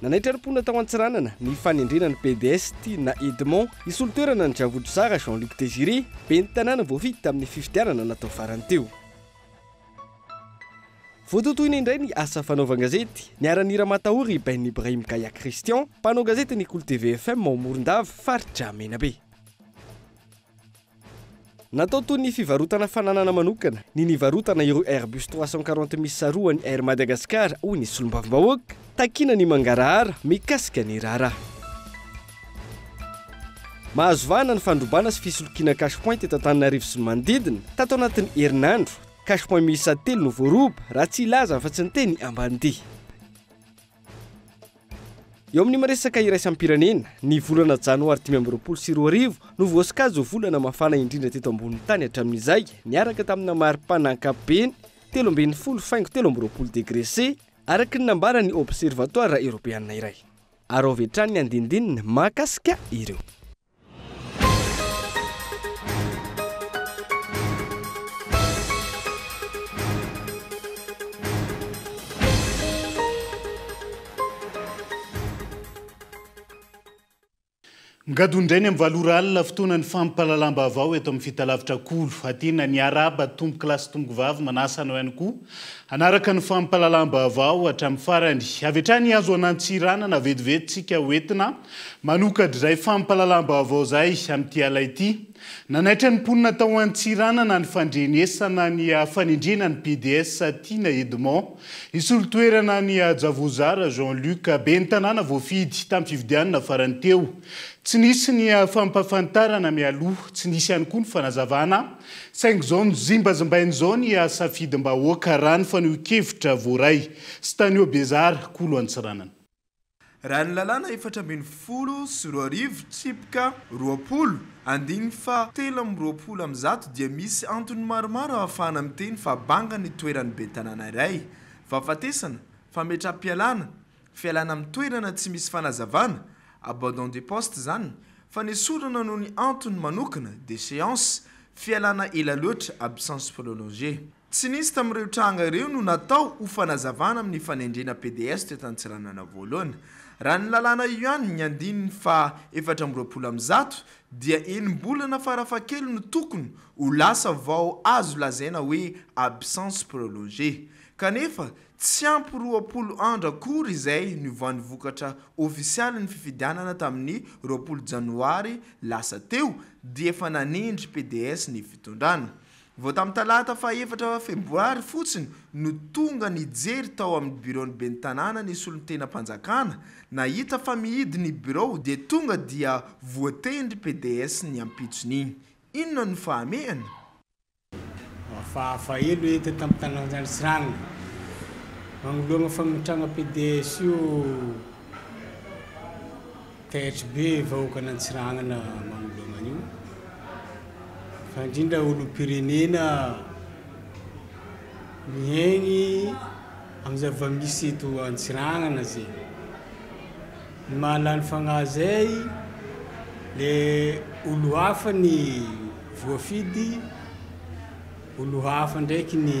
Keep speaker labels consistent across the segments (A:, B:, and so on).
A: Nanaitra ny mponina tao Antsiranana ny fanendrena ny PDS Tiana Edmond hisolo toerana an'i Javoto Zara Jean Luc Désiré, ben'ny tanàna voafidy tamin'ny fifidianana natao farany teo. Voatotoina indray ny asa fanaovan-gazety, niharan'ny ramatahory i Ben Ibrahim Kaya Christian, mpanao gazety ny Kolo TV FM ao Morondava, faritra Menabe. Natao toy ny fivarotana fananana manokana ny nivarotana ireo Airbus trois cent quarante misy sarohan'ny Air Madagascar, hoy ny solombavambahoaka takiana ny mangarahara mikasika ny raharaha. Mahazo vahana ny fandrobana sy fisolokiana cash point eto Antananarivo sy ny manodidina. Tato anatin'ny herinandro, cash point miisa telo no voaroba, raha tsy hilaza afa-tsy ny teny Ambanidia. Eo amin'ny maresaka iraisam-pirenena, ny volana janoary dimy amby roapolo sy roa arivo no voasokajy ho volana mafana indrindra teto ambonin'ny tany hatramin'izay, niaraka tamina maripana ankapobeny telo ambin'ny folo faingo telo amby roapolo degre C, araka ny nambaran'ny Observatoara Eoropeana iray. Araovy hatrany ny andinindininy mahakasika ireo.
B: Migado indray ny amin'ny valo ora alina, fotoana ny fampahalalam-baovao eto amin'ny Fitalavitra Kolo. Aty na ny arahaba tompoko lahy sy tompoko vavy manasa anao ihany koa hanaraka ny fampahalalam-baovao hatramin'ny farany. Avy hatrany Hazoanantsiranana vetivetintsika ho entina Manokatra izay fampahalalam-baovao izay amin'ity ala ity. Nanaitra ny mponina tao Antsiranana ny fandrenesana ny fanendrena ny PDS Tiana Edmond hisolo toerana an'i Hajavozara Jean Luc, ben'ny tanàna voafidy tamin'ny fifidianana farany teo. Tsy nisy ny fampahafantarana mialoha, tsy nisy ihany koa ny fanazavana, saingy izao nozimbazimbaina izao ny safidim-bahoaka raha ny fanehoan-kevitra voaray sy tany Obezara, Kolo Antsiranana. Raha ny
C: lalàna efatra ambin'ny folo sy roa arivo, tsipika roapolo, andininy faha telo amby roapolo amin'ny zato dia misy antony maromaro ahafahana miteny fa banga ny toeran'ny bentanàna iray, fahafatesana, fametraham-pialàna, fialàna amin'ny toerana tsy misy fanazavana, abandon de poste izany, fanesorana noho ny antony manokana, déchéance, fialàna ela loatra, absence prolongée. Tsy nisy tamin'ireo tranga ireo no natao ho fanazavana amin'ny fanendrena PDS teto Antsiranana voalohany. Raha ny lalàna Yuan ny andininy faha efatra amby roapolo amby zato dia enim-bolana farafahakeliny no tokony ho lasa vao azo lazaina hoe absence prolongée. Kanefa tsy ampy roapolo andro akory izay niovan'ny vokatra ofisialin'ny fifidianana tamin'ny roapolo janoary lasa teo dia efa nanendry PDS ny fitondrana. Vao tamin'ny talata faha efatra febroary fotsiny no tonga nijery tao amin'ny biraon'ny ben'ny tanàna ny solontenam-panjakana, nahita fa mihidy ny birao dia tonga dia voatendry PDS ny ampitson'iny. Inona no fahamehana? Hafahafa
D: elo hita tamin'ny tanan-jaly sy ranona manoloana fametrahana PDS io. Taitry be vahoakan Antsiranana manoloana an'io fa indrindra olompirenena mihaigny amin'ny zava-misy eto Antsiranana zay. Ny mahalany fagnahy zay le olo hafa ny voafidy, olo hafa ndraiky ny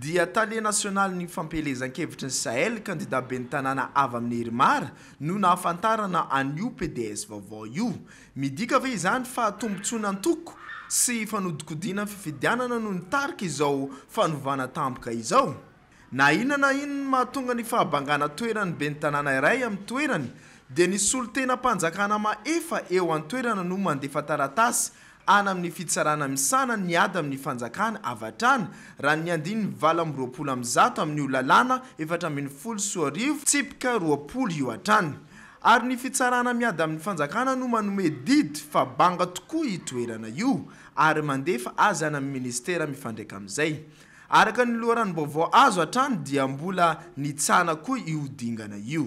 C: dia tale nasionalin'ny fampielezan-kevitry ny Sahel, kandidà ben'ny tanàna avy amin'ny Herimar, no nahafantarana an'io PDS vaovao io. Midika ve izany fa tombontsoana antoko sy fanodinkodinan'ny fifidianana no nitarika izao fanovana tampoka izao? Na inona na inona mahatonga ny fahabangana toeran'ny ben'ny tanàna iray amin'ny toerany, dia ny solontenam-panjakana mahefa eo an-toerana no mandefa taratasy any amin'ny fitsarana misahana ny ady amin'ny fanjakana avy hatrany, raha ny andininy valo amby roapolo amin'ny zato amin'io lalàna efatra ambin'ny folo sy roa arivo tsipika roapolo io hatrany. Ary ny fitsarana miady amin'ny fanjakana no manome didy fa banga tokoa io toerana io ary mandefa azy any amin'ny minisitera mifandraika amin'izay. Araka ny loharanom-baovao azo hatrany dia mbola nitsahana koa io dingana io.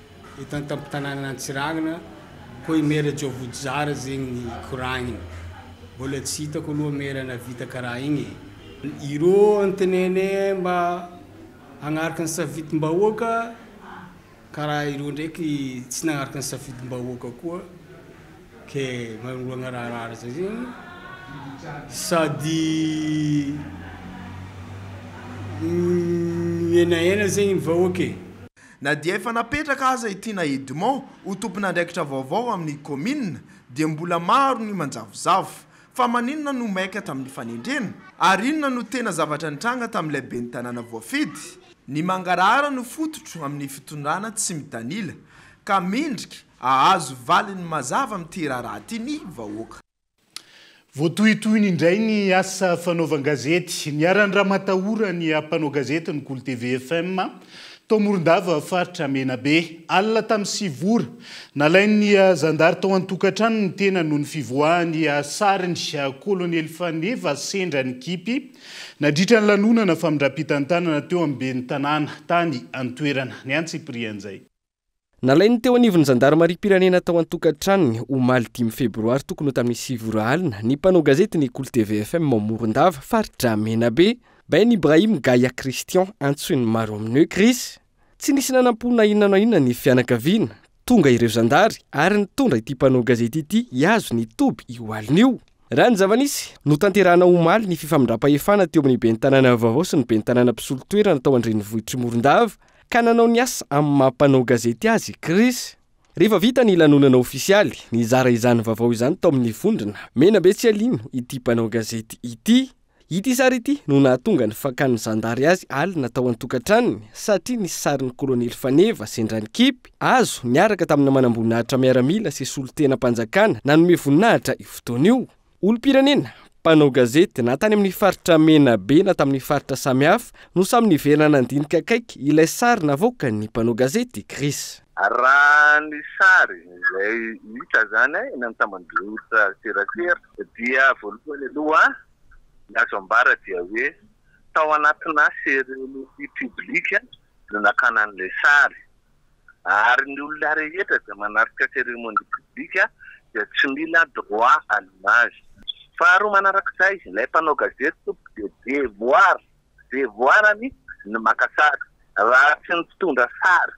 D: Eto an-tampon-tanànan' Antsiranana, hoy Mera Jovodzara zegny ny koragniny. Mbôla tsy hitako aloha Mera navita karaha igny e. Irô antenaine mba hagnaraka ny safidim-bahoaka karaha irô ndraiky tsy nagnaraka ny safidim-bahoaka koa ke magnoroagna raharahara zay zegny sady mihenahena zegny ny vahoaka e. Na dia efa
C: napetraka aza i Tiana Edmond ho tompon'andraikitra vaovao amin'ny kaominina dia mbola maro ny manjavozavo. Fa maninona no maika tamin'ny fanendrena? Ary inona no tena zavatra nitranga tamin'ilay ben'ny tanàna voafidy? Ny mangarahara no fototro amin'ny fitondrana tsy mitanila, ka mendrika hahazo valiny mazava amin'ity raharaha ity ny vahoaka.
B: Voatohitohiny indray ny asa fanaovan-gazety. Niharan-dramatahora ny mpanao gazety ny Kolo TV FM, tao Morondava, faritra Menabe. Alina tamin'ny sivy ora, nalain'ny zandary tao an-tokantrano ny tenany noho ny fivoahany sariny. Kolonely Faneva sendra nikipy nadritra ny lanonana famindram-pitantanana teo amin'ny ben'ny tanàna tany an-toerana. Ny antsipirihan'izay. Nalain'ny
A: teo anivon'ny zandarimariam-pirenena tao an-tokantranony, omaly dimy febroary tokony ho tamin'ny sivy ora alina, ny mpanao gazety ny Kolo TV FM ao Morondava, faritra Menabe, Ben Ibrahim Gaya Christian, antsoin'ny maro amin'ny hoe Chris. Tsy nisy nanampo na inona na inona ny fianakaviana. Tonga ireo zandary ary nitondra ity mpanao gazety ity hihazo ny toby io alina io. Raha ny zava-nisy, notanterahana omaly ny fifamindram-pahefana teo amin'ny ben'ny tanàna vaovao sy ny ben'ny tanàna mpisolo toerana tao an-drenivohitr'i Morondava, ka nanao ny asa amin'ny maha mpanao gazety azy i Chris. Rehefa vita ny lanonana ofisialy, nizara izany vaovao izany tao amin'ny vondrona Menabe tsy alino ity mpanao gazety ity. Ity sary ity no nahatonga ny fakan'ny zandary azy alina tao an-tokantranony satria nisy sarin'ny kolonely Faneva sendra nikipy hazo niaraka tamina manamboninahitra miaramila sy solontenam-panjakana nanome voninahitra io fotoana io. Olom-pirenena, mpanao gazety na tany amin'ny faritra Menabe na tamin'ny faritra samihafa no samy niverina nandinika akaiky ilay sary navoakan'ny mpanao gazety Chris. Raha ny
E: sary izay hita izany eny amin'ny tamban-jotra serasera dia voalohany aloha ny azo ambara dia hoe tao anatinà cérémonie publique no nakàna an'ilay sary. ary ny olona rehetra izay manatrika cérémonie publique dia tsy mila droit à l'image. Faharoa manarak'izay, ilay mpanao gazety tompoko dia devoir, devoir-ny ny maka sary, raha tsy ny mpitondra sary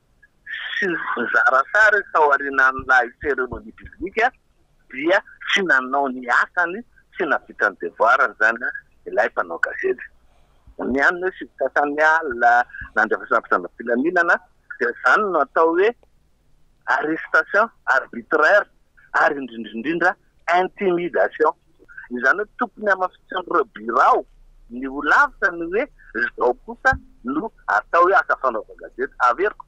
E: sy ny mpizara sary tao aorianan'ilay cérémonie publique dia tsy nanao ny asany, tsy nahavita ny devoarany izany ilay mpanao gazety. Ny an'ny hoe sivy sasany alina nandefasana mpitondram-pilaminana dia izany no atao hoe arrestation arbitraire ary indrindra indrindra intimidation. Izany hoe tokony hamafisin'ireo birao ny ho lavitra ny hoe izao kosa no atao hoe asa fanaovan-gazety. Averiko.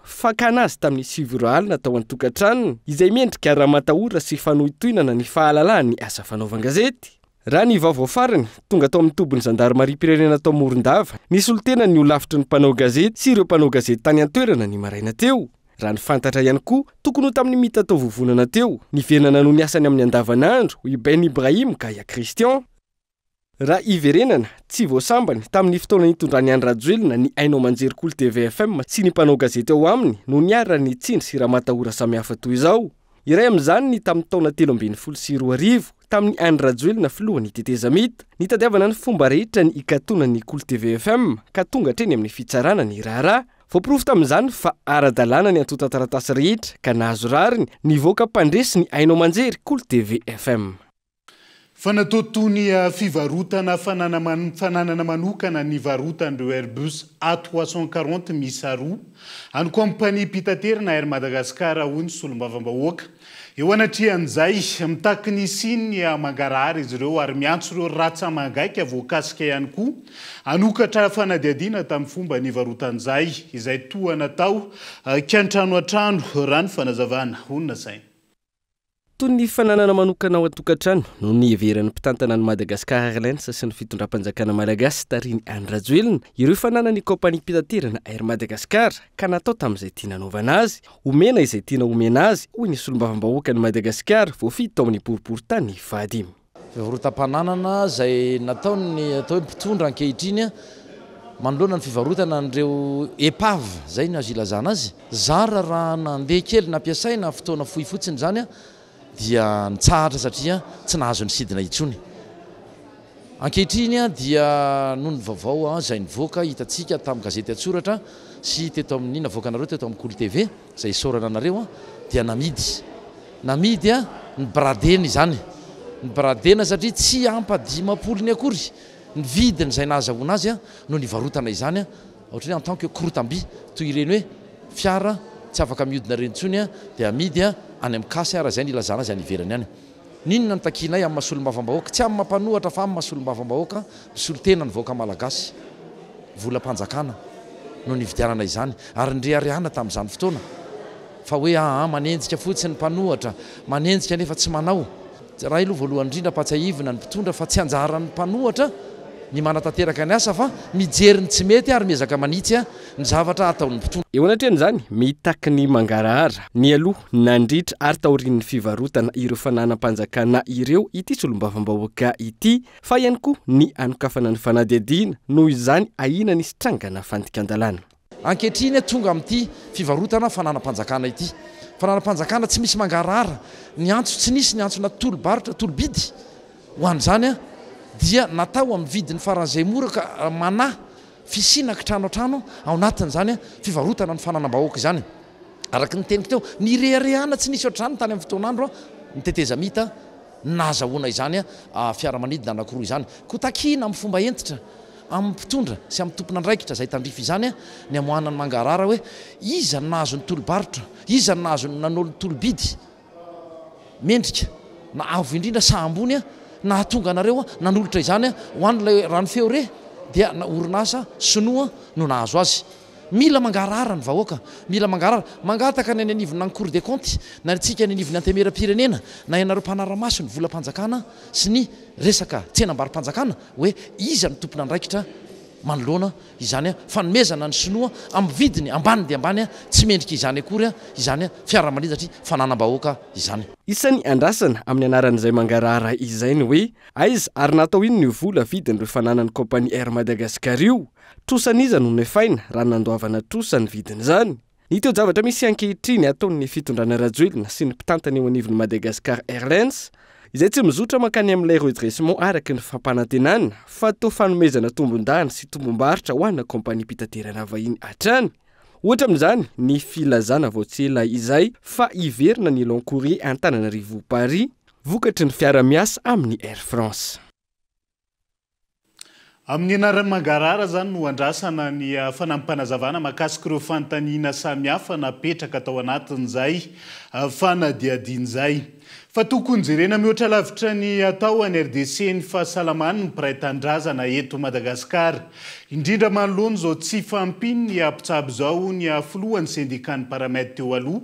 A: fakana azy tamin'ny siviro alina tao an-tokantranony, izay mendrika ramatahora sy fanohintohinana ny fahalalahany ny asa fanaovan-gazety. Raha ny vaovao farany, tonga tao amin'ny tobin'ny zandarimariam-pirenena tao Morondava, nisolo tena ny holafitry ny mpanao gazety sy ireo mpanao gazety tany an-toerana ny maraina teo. Raha ny fantatra ihany koa, tokony ho tamin'ny mita tao vovonana teo, nivenana noho ny asany amin'ny andavanandro, i Ben Ibrahim Gaya Christian. Raha hiverenana, tsy vao sambany, tamin'ny fotoana nitondran'i Andry Rajoelina ny haino aman-jery Kolo tvfm sy ny mpanao gazety ao aminy no niharan'ny tsindry sy ramatahora samihafa toy izao. Iray amin'izany ny tamin'ny taona telo ambin'ny folo sy roa arivo, tamin'i Andry Rajoelina filohan'ny tetezamita, nitadiavana ny fomba rehetra ny hikatonan'ny Kolo tvfm ka tonga hatreny amin'ny fitsarana ny raharaha. Voaporofo tamin'izany fa ara-dalàna ny antontan-taratasy rehetra ka nahazo rariny nivoaka mpandresy ny haino aman-jery Kolo tvfm. Fa natao
B: toy ny fivarotana fananana manokana ny varotan'ireo Airbus A trois cent quarante miisa roa an'ny kaompaniam-pitaterana Air Madagascar, hoy ny solombavambahoaka. Eo anatrehan'izay, mitaky ny hisian'ny mangarahara izy ireo ary miantso ireo ratsa-mangaika voakasika ihany koa hanokatra fanadihadiana tamin'ny fomba nivarotan'izay, izay toa natao kiantranoantrano, raha ny fanazavana honasaina. Toy
A: ny fananana manokana ao an-tokantrano no niheveran'ny mpitantana ny Madagascar Airlines sy ny fitondram-panjakana malagasy tarihin'i Andry Rajoelina ireo fananan'ny kaompaniam-pitaterana Air Madagascar ka natao tamin'izay tiana hanaovana azy, omena izay tiana omena azy, hoy ny solombavambahoakan'i Madagasikara voafidy tao amin'ny boriborintany Vady. Fivarotam-pananana
F: izay nataon'ny atao hoe mpitondra ankehitriny manoloana ny fivarotana an'ireo épave, izay no azo ilazana azy. Zara raha nandeha kely nampiasaina fotoana fohy fotsiny izany dia nitsahatra satria tsy nahazo nisidina intsony. Ankehitriny dia noho ny vaovao izay nivoaka hitantsika tamin'ny gazety an-tsoratra sy teto amin'ny navoakanareo teto amin'ny Kolo TV, Izay isaorana anareo dia namidy. Namidy an! Nibradena izany. Nibradena satria tsy ampa dimampolony akory ny vidiny izay nahazahoana azy no nivarotana izany ohatran'ny hoe en tant que korotam-by. Toy ireny hoe fiara tsy afaka mihodina ireny intsony dia amidy any amin'ny case raha izay no ilazana azy any ivelany any. N'inona no takianay amin'ny maha solombavambahoaka, tsy amin'ny maha mpanohatra fa amin'ny maha solombavambahoaka misolo tena ny vahoaka malagasy. Volam-panjakana no nividianana izany ary nireharehana tamin'izany fotoana fa hoe aa manenjika fotsiny ny mpanohatra, manenjika nefa tsy manao. Iray aloha voalohany indrindra ampatsiahivina ny mpitondra fa tsy anjaran'ny mpanohatra ny manatanteraka ny asa fa mijery ny tsy mety ary miezaka manitsy ny zavatra hataon'ny mpitondra. Eo anatrehan'izany,
A: mitaky ny mangarahara, nialoha, nandritra ary taorian'ny fivarotana ireo fananam-panjakana ireo ity solombavambahoaka ity, fa ihany koa ny hanokafana ny fanadihadiana noho izany ahiana nisy trangana fandikan-dalàna. Ankehitriny,
F: tonga amin'ity fivarotana fananam-panjakana ity. Fananam-panjakana tsy misy mangarahara, ny antso tsy nisy, ny antsona tolo-barotra, tolo-bidy ho an'izany dia natao amin'ny vidiny faran'izay mora ka manahy Fisiana kitrano an-trano ao anatin'izany fivarotana ny fananam-bahoaka izany. Araka ny teniko teo, nireharehana tsy nisy ohatr'izany tany amin'ny fotoan'andro ny tetezamita nahazahoana izany fiaramanidina anankiroa izany. Koa takiana amin'ny fomba hentitra amin'ny mpitondra sy amin'ny tompon'andraikitra izay tandrify izany ny hamoahana ny mangarahara hoe iza no nahazo ny tolo-barotra, iza no nahazo ny nanolo-tolo-bidy. Mendrika, na avo indrindra sa ambony a, nahatonga anareo a, nanolotra izany a, ho an' ilay Rano Feo re, dia na orinasa Sinoa no nahazo azy. Mila mangarahara ny vahoaka, mila mangarahara, mangataka ny any anivon' ny Cour des Comptes, na ny antsika any anivon'ny Antemeram-pirenena, na ianareo mpanara-maso ny volam-panjakana sy ny resaka tsenam-barom-panjakana, hoe iza no tompon'andraikitra manoloana izany fanomezana ny sinoa amin'ny vidiny ambany dia ambany tsy mendrika izany akory izany fiaramanidratry fananam-bahoaka izany. Isany andrasana
A: amin'ny anaran'izay mangarahara izay ny hoe aiza ary natao inona io vola vidin'ireo fananan'ny kaompania Air Madagascar io? Trosa an'iza no nefaina raha nandoavana trosa ny vidin'izany? Ny toe-javatra misy ankehitriny ataon'ny fitondrana Rajoelina sy ny mpitantana eo anivon'ny Madagascar Airlines, izay tsy mizotra mankany amin'ilay redressement araka ny fampanantenana fa toa fanomezana tombondany sy tombombarotra ho ana kaompaniam-pitaterana vahiny hatrany, ohatra amin'izany ny filazana vao tsy ela izay fa hiverina ny long courrier Antananarivo-Paris vokatry ny fiara-miasa amin'ny Air France.
B: Amin'ny anarany mangarahara izany no andrasana ny fanampi-panazavana mahakasika ireo fanontaniana samihafa napetraka tao anatin'izay fanadihadiana izay. Fa tokony jerena mihoatra lavitra ny atao any RDC ny fahasalaman'ny mpiray tanindrazana eto Madagasikara. Indrindra manoloana izao tsy fahampian'ny mpitsabo izao hoy ny filohan'ny sendikan'ny Paramed teo aloha,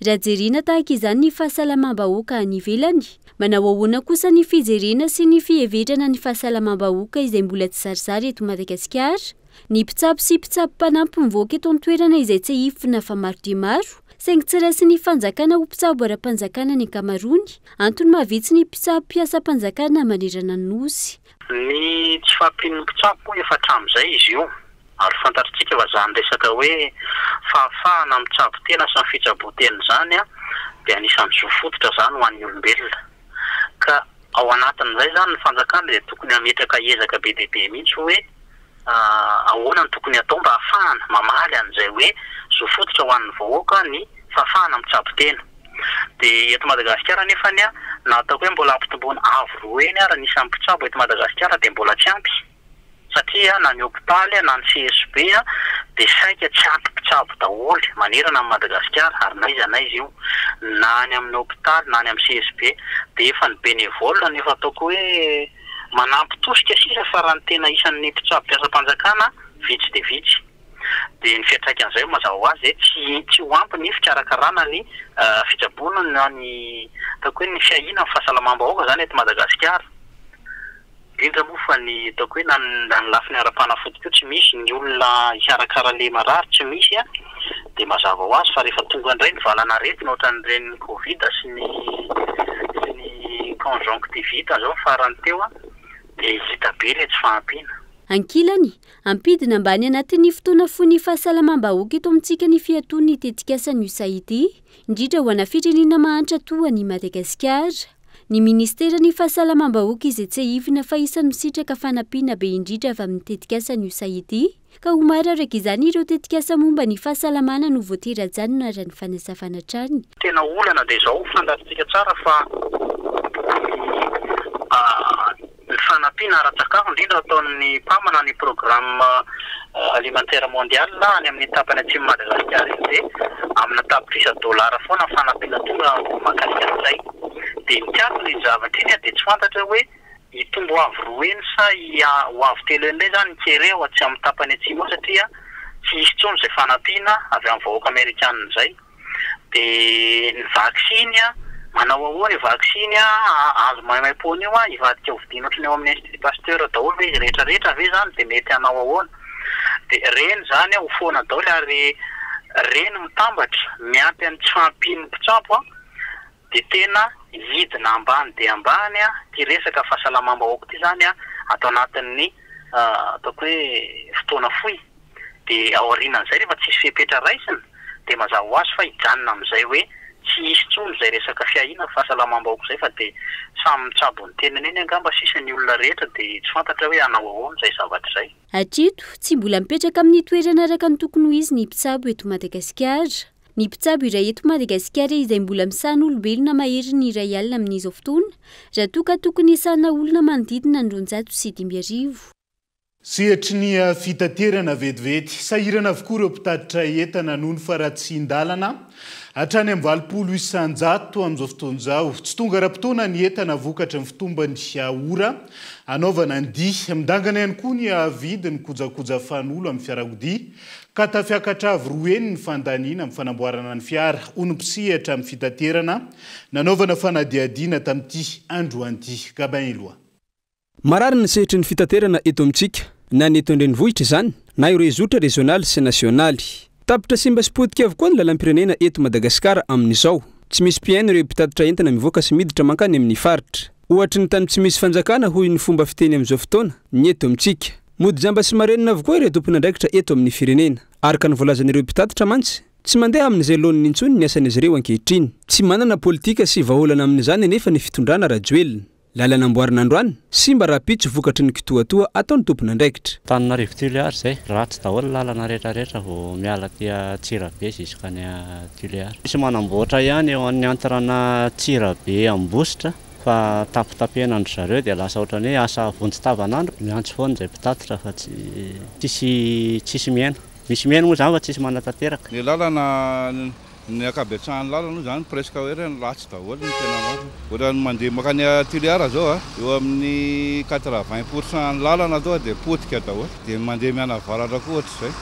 G: Raha jerena tahaka izany ny fahasalamam-bahoaka any ivelany, manao ahoana kosa ny fijerena sy ny fiheverana ny fahasalamam-bahoaka izay mbola tsy zarisary eto Madagasikara? Ny mpitsabo sy mpitsabo mpanampy mivoaka eto an-toerana izay tsehifina fa maro dia maro, saingy tsy raisin'ny fanjakana ho mpitsabo ara-panjakana ny ankamaroany, antony mahavitsy ny mpitsabo mpiasam-panjakana manerana ny Nosy. Ny tsy
H: fahampian'ny mpitsabo moa efa hatramin'izay izy io, ary fantatritsika fa izany resaka hoe fahafahana mitsabo tena sy ny fitsaboan-tena izany dia anisan'ny zo fototra izany ho an'ny olombelona. Ka ao anatin'izay izany ny fanjakana dia tokony hametraka ezaka be dia be mihitsy hoe. Ahoana no tokony hatao mba hahafahana mamaly an'izay hoe zo fototra ho an'ny vahoaka ny fahafahana mitsabo tena? Dia eto Madagasikara anefany na ataoko hoe mbola ampitomboina avo roa eny ary ny isan'ny mpitsabo eto Madagasikara dia mbola tsy ampy satria na ny hopitaly na ny CHB dia saika tsy ampy mpitsabo daholo manerana an'i Madagasikara ary n'aiza n'aiza io na any amin'ny hopitaly na any amin'ny CHB dia efa ny bénévole no efa ataoko hoe Manampy tosika sisa fa raha ny tena isan'ny mpitsabo mpiasam-panjakana vitsy dia vitsy dia ny fiantraikan'izay ho mazava ho azy dia tsy ho ampy ny fikarakarana ny fitsaboana na ny ataoko hoe ny fiahiana ny fahasalamam-bahoaka izany eto Madagasikara indrindra moa fa ny ataoko hoe na ny lafiny ara-panafody koa tsy misy, ny olona hikarakara ilay marary tsy misy an! dia mazava ho azy fa rehefa tonga indray ny valan'aretina ohatran'ireny covid sy ny sy ny conjonctivite izao ny farany teo an, dia hita be ilay tsy fahampiana. Ankilany,
G: ampidina ambany anatin'ny fotoana foan'ny fahasalamam-bahoaka eto amintsika ny fiatoan'ny tetikasan'ny usa ity, indrindra ho ana firenena mahantra toa an'i Madagasikara. Ny minisiteran'ny Fahasalamam-bahoaka izay tsiahivina fa isan'ny misitraka fanampiana be indrindra avy amin'ny tetikasan'ny usa ity, Ka ho maro araka izany ireo tetikasa momba ny fahasalamana no voatery hajanona raha ny fanazavana hatrany. Tena olana dia
H: izao, fandarintsika tsara fa ny fanampiana ara-tsakafo indrindra ataon'ny mpamana ny Programme Alimentaire Mondial any amin'ny tapany atsimon'i Madagasikara iny dia amina tapitrisa dolara foana ny fanampiana tonga mahakasika an'izay. Dia ny tsy antony iny zavatra iny dia tsy fantatra hoe. hitombo ho avo roa heny sa hiha ho avo telo heny indray izany ny kere ao atsy amin'ny tapany atsimo ao satria tsy hisy intsony izay fanampiana avy amin'ny vahoaka amerikana izay. Dia ny vaksiny an, manao ahoana io vaksiny an azo maimaimpoana io an, hivadika ho vidiana ohatran'ny ao amin'ny Institut Pasteur daholo ve izy rehetra rehetra ve izany dia mety hanao ahoana? Dia ireny izany an ho foana daholo ary ireny mitambatra miampy an'ny tsy fahampian'ny mpitsabo an. Dia tena hidina ambany dia ambany ity resaka fahasalamam-bahoaka ity izany ato anatin'ny ataoko hoe fotoana fohy. Dia aorianan'izay rehefa tsisy fepetra raisina dia mazava ho azy fa hijanona amin'izay hoe tsy hisy intsony izay resaka fiahiana ny fahasalamam-bahoaka izay fa dia samy mitsabo ny tenany eny angamba sisa ny olona rehetra dia tsy fantatra hoe hanao ahoana izay zavatra izay. Hatreto, tsy
G: mbola mipetraka amin'ny toerana araka ny tokony ho izy ny mpitsabo eto Madagasikara. Ny mpitsabo iray eto Madagasikara izay mbola misahana olombelona mahery ny iray alina amin'izao fotoana, raha toa ka tokony hisahana olona manodidina ny roanjato sy dimy arivo.
B: Sehatry ny fitaterana vetivety, sahirana avokoa ireo mpitatitra entana noho ny faharatsian-dalana, hatrany amin'ny valopolo isan-jato amin'izao fotoana izao. Tsy tonga ara-potoana ny entana vokatry ny fitombany ora anaovana ny dia. Midangana ihany koa ny vidin'ny kojakoja fanolo amin'ny fiarakodia Ka tafiakatra avy roa heny ny fandaniana amin'ny fanamboarana ny fiara ho ny mpisehatra amin'ny fitaterana nanaovana fanadihadiana tamin'ity androany ity. Gabin Eloi. Marary
I: ny sehatry ny fitaterana eto amintsika, na ny eto an-drenivohitra izany, na ireo zotra rezionaly sy nasionaly. Tapitra simba sy potika avokoa ny lalam-pirenena eto Madagasikara amin'izao. Tsy misy mpihaino ireo mpitatitra entana mivoaka sy miditra mankany amin'ny faritra. Ohatry ny tany tsy misy fanjakana hoy ny fomba fiteny amin'izao fotoana ny eto amintsika. Mody jamba sy marenina avokoa ireo tompon'andraikitra eto amin'ny firenena. Araka ny voalazan'ireo mpitatitra mantsy, tsy mandeha amin'izay laoniny intsony ny asan'izy ireo ankehitriny. Tsy manana politika sy vahaolana amin'izany anefa ny fitondrana Rajoelina. Lalana amboarina androany, simba rahampitso vokatry ny kitoatoa ataon'ny tompon'andraikitra. Antananarivo Tuléar
J: izay, ratsy daholo ny lalana rehetra rehetra vao miala aty Antsirabe jusk'any Tuléar. Misy manamboatra ihany eo an'ny antirana Antsirabe Ambositra. fa tapitapehina an-dry zareo dia lasa ohatran'ny hoe asa vonjy tavan'andro, miantso foana izay mpitatitra fa tsy tsisy tsisy mihena, misy mihena moa izany fa tsisy manatanteraka. Ny lalana,
K: ny ankabetsahan'ny lalana moa izany presque hoe ireny ratsy daholo ny tena marina, ohatran'ny mandeha mankany à Toliara izao a, eo amin'ny quatre vingt pour cent ny lalana aloha dia potika daholo, dia ny mandeha mianavaratra koa ohatr'izay.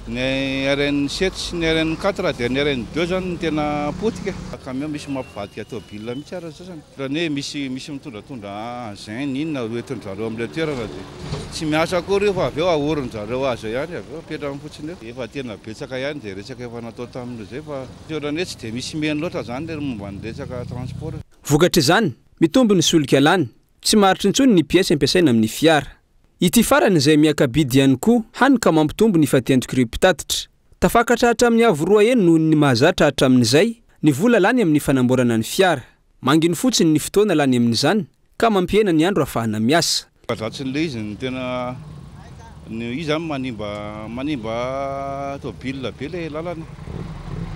K: Ny RN sept sy ny RN quatre dia ny RN deux zany no tena potika. Camion misy mampivadika tôbile mihitsy ara zao zany. Otrany hoe misy misy mitondratondra engin na inona ro entin drareo amle toerana de tsy miasa akory io fa avy eo ahorin drareo aza ihany avy eo apetrany fotsiny eo. Efa tena betsaka ihany zay resaka efa natao tamin zay fa otrany hoe tsy de misy meno loatra zany le momba ny resaka transport. Vokatr'izany,
I: mitombo ny solika lany, Tsy maharitra intsony ny piesy ampiasaina amin'ny fiara. Ity farany izay miaka-bidy ihany koa, hany ka mampitombo ny fatiantoky-reo mpitatitra. Tafakatra hatramin'ny avo roa heny noho ny mahazatra hatramin'izay ny vola lany amin'ny fanamboarana ny fiara. Manginy fotsiny ny fotoana lany amin'izany ka mampihena ny andro ahafahana miasa. Mahazatra an'ilay izy no
K: tena. Io zany manimba manimba tôbila be le lalana,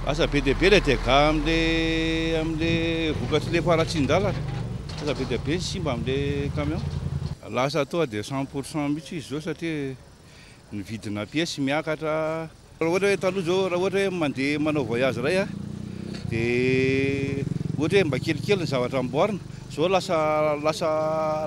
K: asa be dia be le dega amle amle vokatry le faharatsian-dalana, asa be dia be ny simba amle camion. Lasa toa de cent pour cent mihitsy izy zao satria ny vidina piesy miakatra. Raha ohatra hoe taloha izao, raha ohatra hoe mandeha manao voyage iray a, dia ohatra hoe mba kelikely ny zavatra amboarina, izao lasa lasa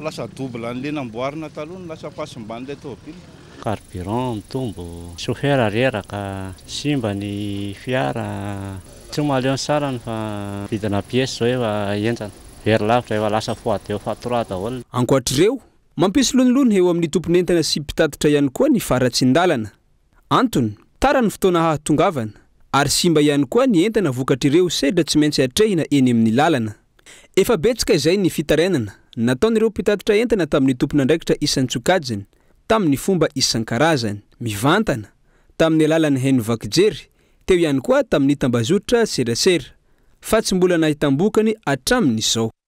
K: lasa double an'ilay namboarina taloha no lasa fahasimban'ilay tômôbila. Carburant
J: mitombo, chauffeur reraka, simba ny fiara, tsy ho mahaleo ny sarany fa vidina pièces izao efa henjana, very lavitra, efa lasa fois deux fois trois daholo. Ankoatr'ireo,
I: mampisy lonilony eo amin'ny tompon'entana sy mpitatitra ihany koa ny faharatsian-dalana, Antony, tara ny fotoana hahatongavana, ary simba ihany koa ny entana vokatr'ireo sedra tsy maintsy atrehina eny amin'ny lalana. Efa betsaka izay ny fitarainana nataon'ireo mpitatitra entana tamin'ny tompon'andraikitra isan-tsokajiny tamin'ny fomba isan-karazany, mivantana tamin'ny alalan'ny haino vaky jery, teo ihany koa tamin'ny tambazotra serasera, fa tsy mbola nahitam-bokany hatramin'izao.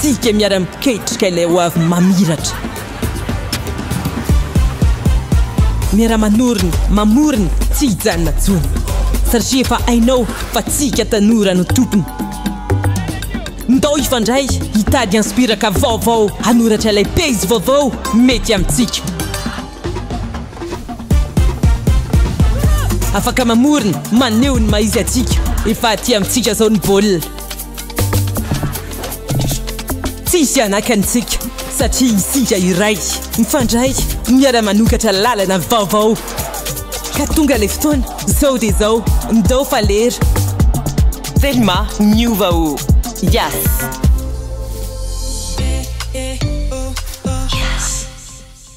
L: Tsika miara-miketrika ilay hoavy mamiratra. Miara-manorina, mamorona, tsy hijanona intsony. Satria efa hainao fa tsika tanora no tompony. Ndao hifandray, hitady inspiraka vaovao hanoratra ilay pejy vaovao mety amintsika. Afaka mamorona, maneho ny maha-izy antsika. Efa aty amintsika izao ny baolina. Tsy hisy hanakana antsika satria isika iray, mifandray, miara-manokatra lalana vaovao. Ka tonga ilay fotoana, izao dia izao, ndao fa lera. Telma, miova o! Yas!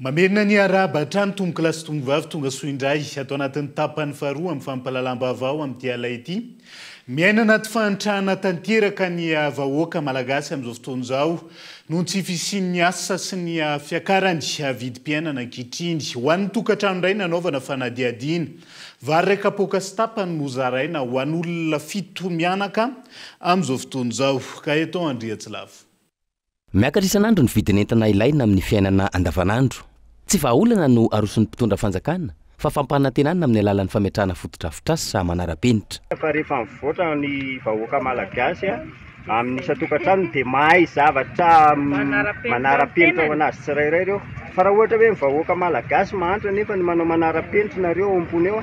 B: Mamerina ny arahaba hatrany tompokolahy sy tompkovavy tonga soa indray ato anatin'ny tapany faharoa amin'ny fampahalalam-baovao amin'ity alina ity. Miaina anaty fahantrana tanteraka ny vahoaka malagasy amin'izao fotoana izao noho ny tsy fisian'ny asa sy ny fiakaran'ny vidim-piainana ankehitriny. Ho an'ny tokantrano indray nanaovana fanadihadiana, vary iray kapoaka sy tapany no zaraina ho an'olona fito mianaka amin'izao fotoana izao. Gaëtan Andriatsilavo. Miakatra
M: isan'andro ny vidin'entana ilaina amin'ny fiainana andavanandro. Tsy vahaolana no aroson'ny mpitondra fanjakana, fa fampanantenana amin'ny alalan'ny fametrahana fotodrafitrasa manara-penitra.
N: Fa rehefa mivoatra
M: ny
N: vahoaka Malagasy amin'ny isan-tokantranony dia mahay zavatra manara-penitra ho an'azy tsirairay ireo. Fa raha ohatra hoe ny vahoaka Malagasy mahantra nefa ny manao manara-penitra nareo ao am-pony ao,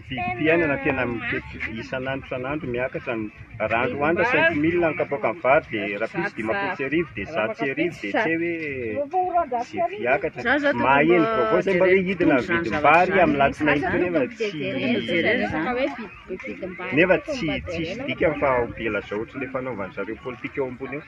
C: Vidim-piainana tena
N: mitety isan'andro isan'andro miakatra ny rano Rwanda cinq mille ny kapoakan'ny vary dia rapiso dimampolo sy arivo dia zato sy arivo dia tsy hay hoe izay mpiakatra dia maheno vaovao izay mba hoe hidina ny vidim-bary amin'ny alatsinainy ity nefa tsy nefa tsy tsisy dikany fa ho be lazaotry ilay fanaovan-dry zareo politika eo ambony eo.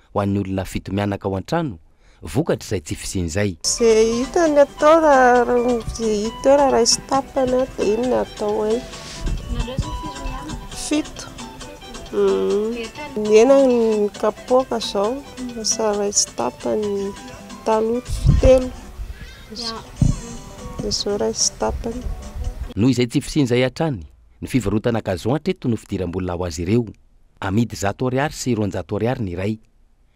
M: ho an'ny olona fito mianaka ao an-trano vokatr'izay tsy fisian'izay. Ze hita ny
O: atao raha ze hita eo raha raisy tapany dia iny no atao hoe. Nareo zao firy mianaka? Fito. Ny hena ny kapoaka zao lasa raisy tapany taloha telo dia zao raisy tapany. Noho izay tsy
M: fisian'izay hatrany, ny fivarotana gazon hatreto no fidiram-bola ho azy ireo. Amidy zato ariary sy roanjato ariary ny iray.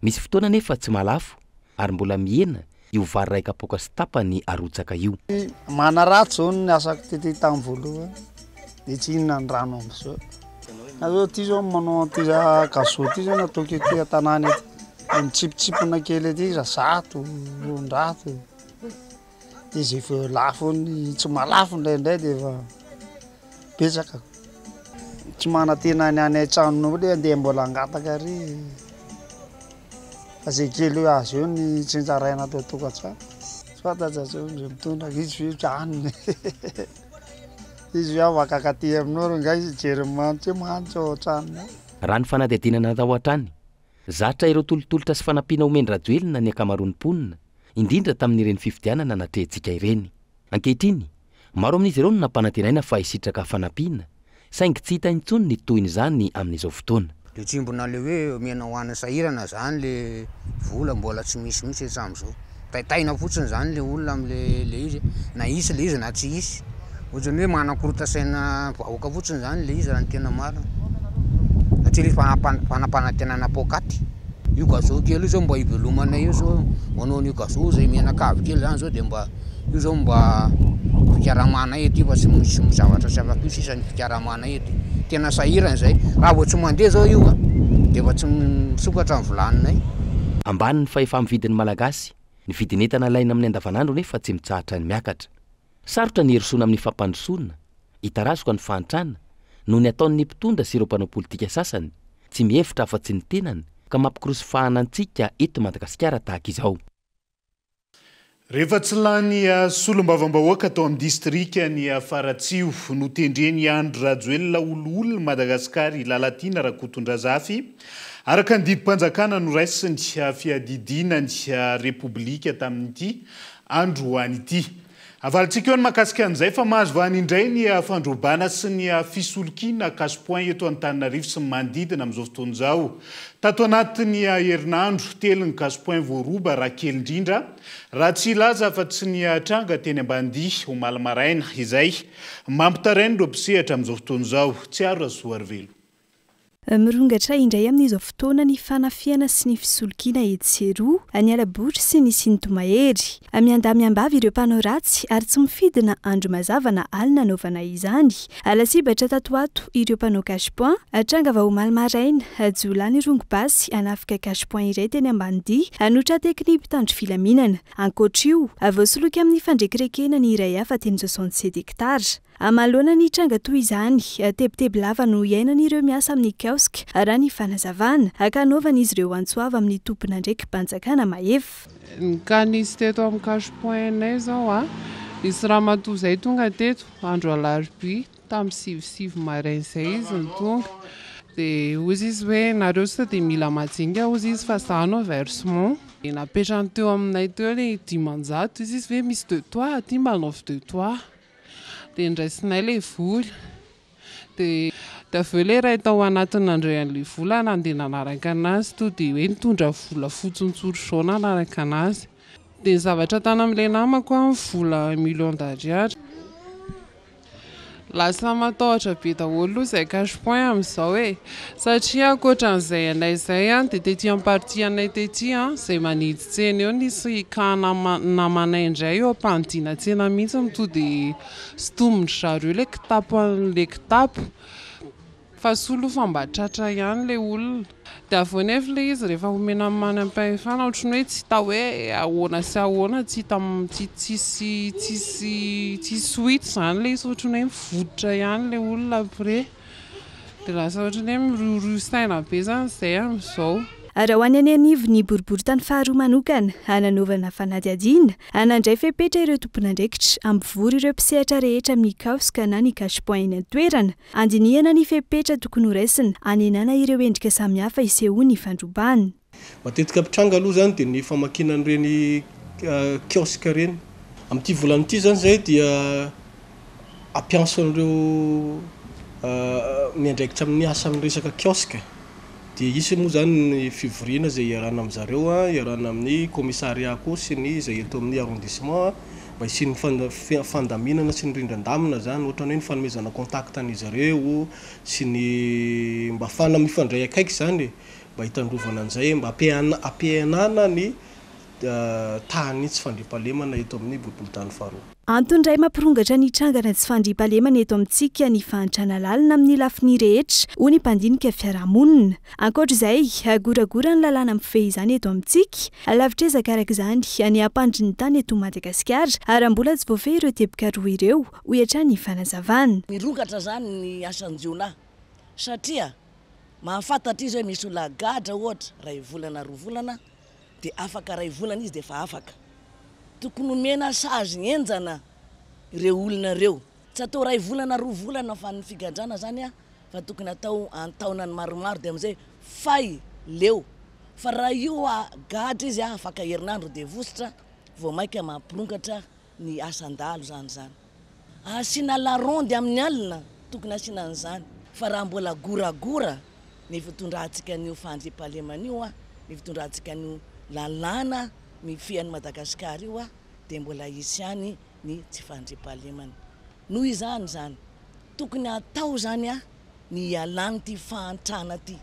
M: Misy fotoana anefa tsy mahalafo ary mbola mihena io vary iray kapoaka sy tapany arotsaka io. Manaraha zao
P: ny asako tety tam voalohany de tsy inona ny rano amzao na zao ty zao manao anty gazo ty zao nataoko ety an-tanàna ety de mitsipitsipona kely ety za zato roanjato. Izy efa eo lafiny tsy malafo indraindray dia efa betsaka. Tsy manantena ny any an-tranonao le andeha mbola hangataka ary fa zay kely eo azo eo ny tsinjaraina ato an-tokantrano. Soit aza asao ndray mitondra ka izy ve tsy hanina e! Izy ve afaka akaty aminao r'angaha izy hijery ny manitra hoe manitra ao an-tranonao? Raha ny fanadihadiana
M: natao hatrany Zatra ireo tolotolotra sy fanampiana omen-dRajoelina ny ankamaroan'ny mponina, indrindra tamin'ireny fifidianana natrehintsika ireny. Ankehitriny, maro amin'izy ireo no nampanantenaina fa hisitraka fanampiana, saingy tsy hita intsony ny tohin'izany amin'izao fotoana. Dia tsimbina le hoe
Q: omena ho an'ny sahirana zany le vola mbola tsy misy mihitsy hatramin'izao. taitaina fotsiny zany le olona am le le izy na hisy le izy na tsy hisy ohatrany hoe manakorota saina vahoaka fotsiny zany le izy raha ny tena marina satria le fanapan- fanapanantenana poakaty io gazou kely io zao mba hivelomanay io zao manao an'io gazou zay mianakavy kely zany zao de mba io zao mba fikaramanay aty fa tsy misy zavatra tsy afaka io sisa ny fikaramanay Tena sahirana izay. Raha vao tsy mandeha izao io a, dia efa tsy misokatra ny vilaninay. Ambany
M: ny fahefa-mividin'ny Malagasy. Ny vidin'entana ilaina amin'ny andavanandro anefa tsy mitsahatra ny miakatra. Sarotra ny hirosoana amin'ny fampandrosoana, hitarazoka ny fahantrana, noho ny ataon'ny mpitondra sy ireo mpanao politika sasany, tsy mihevitra afa-tsy ny tenany, ka mampikorosy fahana antsika eto Madagasikara tahaka izao. Rehefa
B: tsy lany solombavambahoaka tao amin'ny distrikan'i Faratsiho, notendren'i Andry Rajoelina oloholon'i Madagasikara i Lalatiana Rakotondrazafy, araka ny didim-panjakana noraisiny fiadidiana ny Repoblika tamin'ity androany ity. Avalintsika eo ny mahakasika an'izay fa mahazo vahana indray ny fandrobana sy ny fisolokiana cash point eto Antananarivo sy ny manodidina amin'izao fotoana izao. Tato anatin'ny herinandro, telo ny cash point voaroba raha kely indrindra, raha tsy hilaza afa-tsy ny tranga teny Ambanidia, omaly maraina, izay. Mampitaraina ireo mpisehatra amin'izao fotoana izao. Tsiaro Rasoarovelo.
R: Mirongatra indray amin'izao fotoana ny fanafihana sy ny fisolokiana etsy sy eroa, any Alabotra sy ny Sintomahery. Miandahy miambavy ireo mpanao ratsy ary tsy mifidy na andro mazava na alina hanaovana izany. Lasibatra tato ho ato ireo mpanao cash point. Tranga vao omaly maraina, jiolahy nirongo basy hanafika cash point iray teny Ambanidia no tra-teky ny mpitandro filaminana. Ankoatra io, voasoloky amin'ny fandrekirekena ny iray hafa teny soixante sept hectares. Amaloana ny tranga toy izany, tebiteby lava no iainan'ireo miasa amin'ny Kaoska, raha ny fanazavana, ankanaovan'izy ireo antso avo amin'ny tompon'andraiki-panjakana mahefa. Ka nisy
S: teto amin'ny cash point nay izao a, nisy ramatoa izay tonga teto andro alarobia, tamin'ny sivy sivy maraina izay izy no tonga, dia hoy izy hoe nareo sao dia mila majinika hoy izy fa za no versement, dia napetrany teo aminay teo ilay dimanjato, hoy izy hoe misy de toi aty mba anaovy de toi. Dia ndraisinay ilay vola. Dia dia avy eo ilay iray tao anatiny nandray an'ilay vola nandeha nanaraka anazy to dia hoe nitondra vola fotson'tsory izao nanaraka anazy. Dia ny zavatra tany amin'ilay namako an, vola un million d'ariary. Lasa matahotra be daholo aloha izay cash point amin'izao e. Satria ankoatran'izay anay izay dia tety am partie anay tety izay manidy tsena eo nisy cas na namanay indray eo ampanidina tsena mihitsy no to dia sintomin-dry zareo ilay kitapo an'ilay kitapo fa soa aloha fa mba tratra ihany ilay olona dia avy eo nefa ilay izy rehefa omena ny manam-pahefana ohatran'ny hoe tsy hita hoe ahoana sy ahoana tsy hita tsy tsisy tsisy tsisy ho hita izany ilay izy ohatran'ny hoe mivodotra ihany ilay olona après. Dia lasa ohatran'ny hoe miriorio saina be izany izay amin'izao. Ary ho any
R: anivon'ny boriborintany faharoa manokana, hananaovana fanadihadiana, hanandray fepetra ireo tompon'andraikitra, hampivory ireo mpisehatra rehetra amin'ny Kaosca na ny Cash Point eny an-toerana, handinihana ny fepetra tokony horaisina, hanenana ireo endrika samihafa isehoan'ny fandrobana. Matetika mpitranga
T: aloha izany dia ny famakiana an'ireny kiosque ireny. Amin'ity volana ity izany izay dia hampiantson'ireo miandraikitra amin'ny asa amin'ny resaka kiosque. Dia hisy moa izany ny fivoriana izay hiarahana amin-dry zareo, hiarahana amin'ny kaomisarià koa sy ny izay eto amin'ny arrondissement mba hisian'ny fana- fandaminana sy ny rindran-damina izany, ohatra ny hoe ny fanomezana contact an'izy ireo sy ny mba ahafahana mifandray akaiky izany e. mba hitandrovana an'izay, mba hampihenana ny tahan'ny tsy fandriampahalemana eto amin'ny boriborintany faharoa. Antony iray mampirongatra
R: ny hitrangana tsy fandriampahalemana eto amintsika ny fahantrana lalina amin'ny lafiny rehetra, hoy ny mpandinika fiarahamonina. Ankoatra izay, goragora ny lalàna mifehy izany eto amintsika, lavitr'ezaka araka izany ny hampandry ny tany eto Madagasikara raha mbola tsy voafehy ireo teboka roa ireo, hoy hatrany ny fanazavana. Mirongatra izany
U: ny asan-jiolahy. satria mahafantatra izy hoe misy olona gadra ohatra iray volana roa volana dia afaka iray volana izy dia efa afaka, tokony omena sazy henjana ireo olona ireo, tsy atao iray volana roa volana fa ny figadrana izany a fa tokony atao an-taonany maromaro dia amin'izay fay, leo, fa raha io a gadra izy a afaka herinandro dia vositra vao maika mampirongatra. ny asan-dahalo zany zany asiana la ronde amin'ny alina tokony asiana an'izany fa raha mbola goragora ny fitondrantsika an'io fandriampahalemana io a ny fitondrantsika an'io lalàna mifehy an'i Madagasikara io a dia mbola hisy ihany ny tsy fandriampahalemana noho izany izany tokony hatao izany a ny hialany ity fahantrana ity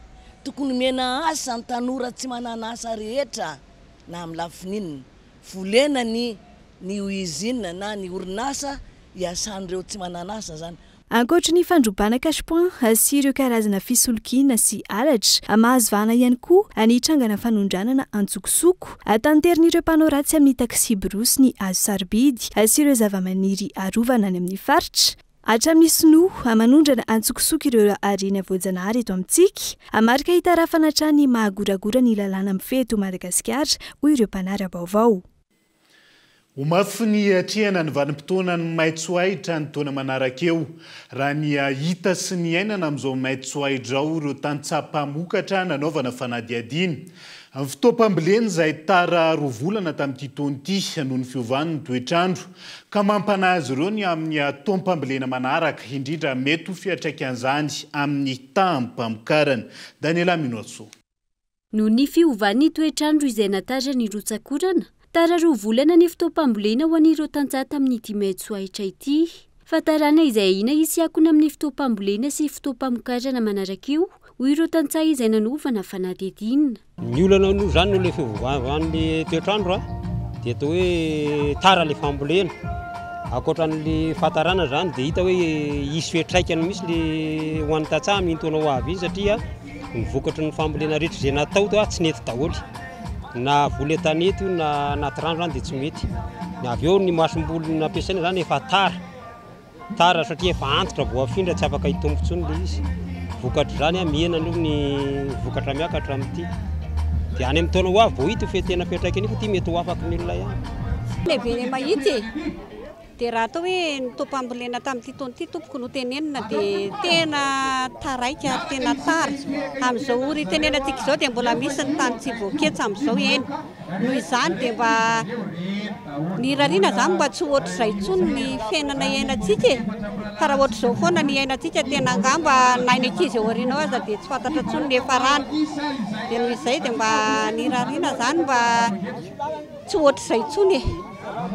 U: tokony omena asa ny tanora tsy manana asa rehetra na amin'ny lafiny inona Volena ny ny uisine na ny orinasa iasan'ireo tsy manan'asa izany. Ankoatry ny fandrobana
R: cash point sy ireo karazana fisolokiana sy halatra, mahazo vahana ihany koa ny hitrangana fanondranana antsokosoko. Tanterin'ireo mpanao ratsy amin'ny taxi-brousse ny hazo sarobidy sy ireo zavamaniry arovana any amin'ny faritra. Hatramin'ny sinoa, aman'ondrana antsokosoko ireo harena voajanahary eto amintsika, hamarika hitarafana hatrany ny maha goragora ny lalàna mifehy eto Madagasikara, hoy ireo mpanara-baovao.
B: Ho mafy ny hiatrehana ny vanim-potoanan'ny maitso ahitra ny taona manaraka eo, raha ny hahita sy ny hiainana amin'izao maitso ahitra izao, hoy ireo tantsaha mpamokatra nanaovana fanadihadiana. Ny fotoam-pambolena izay tara roa volana tamin'ity taona ity, noho ny fiovan'ny toetr'andro, ka mampanahy azy ireo ny amin'ny taom-pambolena manaraka, indrindra mety ho fiantraikan'izany amin'ny taham-pamokarana. Daniela Minoatso. Noho ny
G: fiovan'ny toetr'andro izay natarina ny rotsak'orana, tara roa volana ny fotoam-pambolena ho an'ireo tantsaha tamin'ny ity may tsoahitra ity. Fantarana izay ahiana hisy akona amin'ny fotoam-pambolena sy fotoam-pamokarana manaraka io, hoy ireo tantsaha izay nanovana fanadihadiana. Ny olana noho
D: izany noho ilay fiovàvan'ny toetr'andro dia atao hoe tara ilay fambolena. Ankoatran'ny fahatarana izany dia hita hoe hisy fiantraikany mihitsy ilay ho an'ny tantsaha amin'iny taona ho avy iny satria ny vokatry ny fambolena rehetra izay natao teo tsy nety daholo, na voly an-tanety io na anaty rano izany dia tsy mety. Avy eo ny masomboly nampiasaina izany efa tara. Tara satria efa antitra, voafindra, tsy afaka hitombo intsony ilay izy. Vokatr'izany an, mihena aloha ny vokatra miakatra amin'ity. Dia any amin'ny taona ho avy vao hita io fe tena fiantraikany io fa ity mety ho afaky ny olona ihany. Lehibe ny
E: mahita e! Dia raha atao hoe ny taom-pambolena tamin'ity taona ity tompoko no tenenina dia tena taraiky ary tena tara. Amin'izao ora itenenantsika izao dia mbola misy ny tany tsy voaketsa amin'izao eny. Noho izany dia mba nirariana izany mba tsy ho ohatr'izay intsony ny fiainana iainantsika e! Fa raha ohatr'izao foana ny iainantsika tena angamba na ny ankizy ao aoriana ao aza dia tsy fantatra intsony ny hiafarany. Dia noho izay dia mba nirariana izany mba tsy ho ohatr'izay intsony e!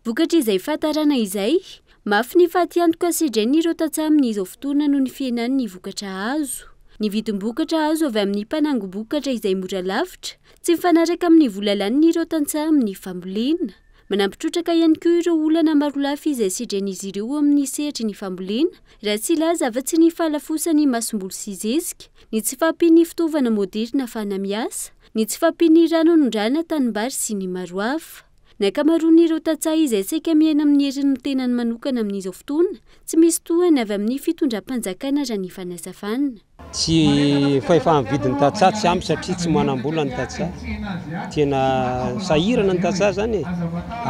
E: Vokatr'izay
G: fahatarana izay, mafy ny fatiantoka sedrain'ireo tantsaha amin'izao fotoana noho ny fihenan'ny vokatra azo. Ny vidim-bokatra azo avy amin'ny mpanangom-bokatra izay mora lavitra Tsy mifanaraka amin'ny vola laniny ireo tantsaha amin'ny fambolena. Manampy trotraka ihany koa ireo olana marolafy izay sedren'izy ireo eo amin'ny sehatry ny fambolena, raha tsy hilaza afa-tsy ny fahalafosan'ny masomboly sy zezika, ny tsy fahampian'ny fitaovana moderina ahafahana miasa, ny tsy fahampian'ny rano hanondrahana tanimbary sy ny maro hafa. Ny ankamaroan'ireo tantsaha izay saika miaina amin'ny heriny ny tenany manokana amin'izao fotoana tsy misy tohany avy amin'ny fitondram-panjakana raha ny fanazavana. Tsy
D: fahefan'ny vidin'ny tantsaha tsy ampy satria tsy manam-bola ny tantsaha. Tena sahirana ny tantsaha zany e.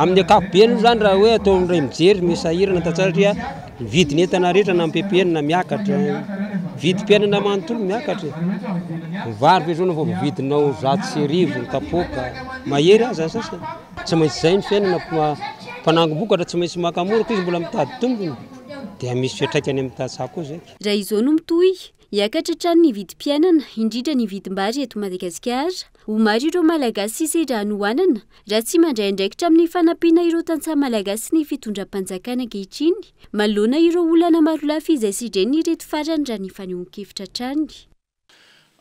D: Amin'ny ankapobeny moa zany raha hoe atao indray mijery ny sahirana ny tantsaha satria ny vidin'ny entana rehetra na ampepenina miakatra, vidim-piainana manontolo miakatra e. Ny vary ve zao no vao vidinao zato sy arivo ny kapoaka, mahery aza ny sasany. Tsy maintsy izay ny fiainana, mpanangom-bokatra tsy maintsy maka mora koa izy mbola mitady tombony dia misy fiantraikany amin'ny tantsaha koa zay. Raha izao no mitohy,
G: hiakatra hatrany ny vidim-piainana, indrindra ny vidim-bary eto Madagasikara. Ho maro ireo Malagasy sisa ireha hanohanana, raha tsy mandray andraikitra amin'ny fanampiana ireo tantsaha malagasy ny fitondram-panjakana ankehitriny, manoloana ireo olana marolafy izay sedren'ireto farany raha ny fanehoan-kevitra hatrany.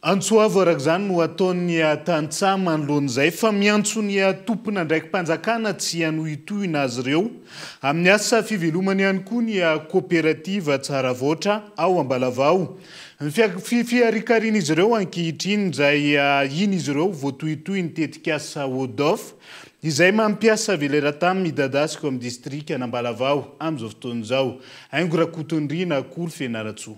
G: Antso
B: avo araka izany no ataon'ny tantsaha manoloana izay fa miantso ny tompon'andraiki-panjakana tsy hanohitohina azy ireo amin'ny asa fivelomany ihany koa ny koperativa Tsaravaotra ao Ambalavao. Fihariharian'izy ireo ankehitriny izay iny izy ireo voatohitohy ny tetikasa ODOF izay mampiasa veleratam midadasika ao amin'ny distrikan'Ambalavao amin'izao fotoana izao. Aingo Rakotondriana, Akory Fianaratsoa.